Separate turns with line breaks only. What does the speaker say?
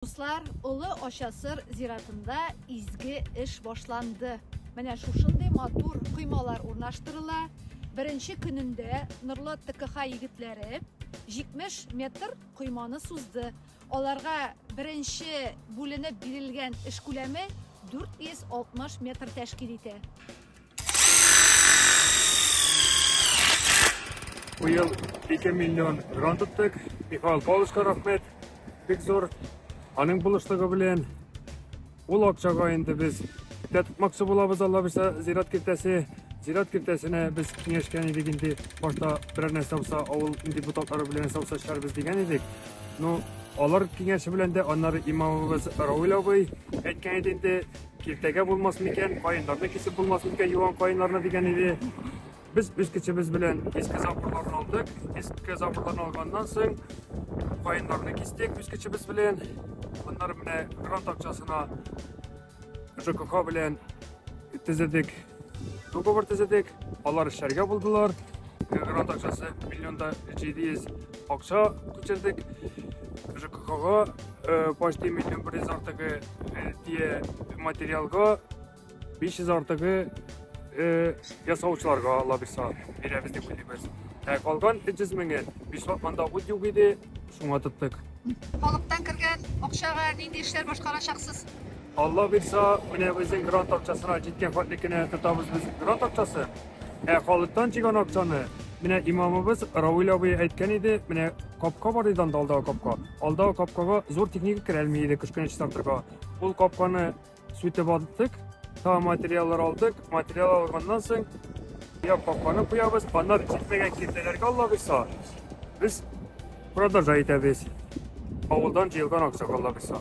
Дуслар, Олы Ачасыр зиратында изге эш башланды. Менә шушындый матур коймалар урнаштырыла. Беренче көнендә Норлат ТКХ егетләре 70 метр койманы сузды. Аларга беренче бүленеп бирелгән эш күләме 460 метр тәшкил итә.
Бу ел 2 миллион гран тоттык. Михаил Павловичка рәхмәт. Бик зур. Аның булышлыгы белән ул акчага инде без дә тотмакчы булабыз Алла бирсә зират киртәсе. Зират киртәсенә без киңәшкән идек инде башта берәр нәрсә булса авыл депутатлары белән савса чарбыз дигән идек. Ну, алар киңәше белән дә аннары имамыбыз Равил абый әйткән иде инде Киртәгә булмас микән, каеннарны кисеп булмас микән, юан каеннарны дигән иде. Без үз көчебез белән иске заборларны алдык. Иске заборларны алганнан соң каеннарны кистек үз көчебез белән. Аннары менә грант акчасына ЖКХ белән төзедек Договор төзедек, алар эшләргә булдылар. Грант акчасы миллионда 700 акча күчердек. ЖКХга э, почти миллион бер йөз артыгы э, тие материалга 500 артыгы э, ясаучыларга лабиса бирәбез дип уйлыйбыз. Ә калган 300 меңе Бишват анда ут юк иде, Шуңа тоттык. Халыктан
кергән акчага нинди эшләр башкарачаксыз? Алла бирса,
менә безнең грант акчасына җиткән фатли кенә тотабыз без грант акчасы. Ә халыктан җигән акчаны менә имамыбыз Равил абый әйткән иде, менә капка бар иде анда алдагы капка. Алдагы капкага зур техника керәлми иде кышкы тракторга. Ул капканы Сүтеп аттык, та материаллар алдык. Материал алганнан соң я капканы куябыз, аннан җитмәгән киртәләргә Алла кыйса. Без продажа итәбез. Авылдан җыелган акчага Алла кыйса.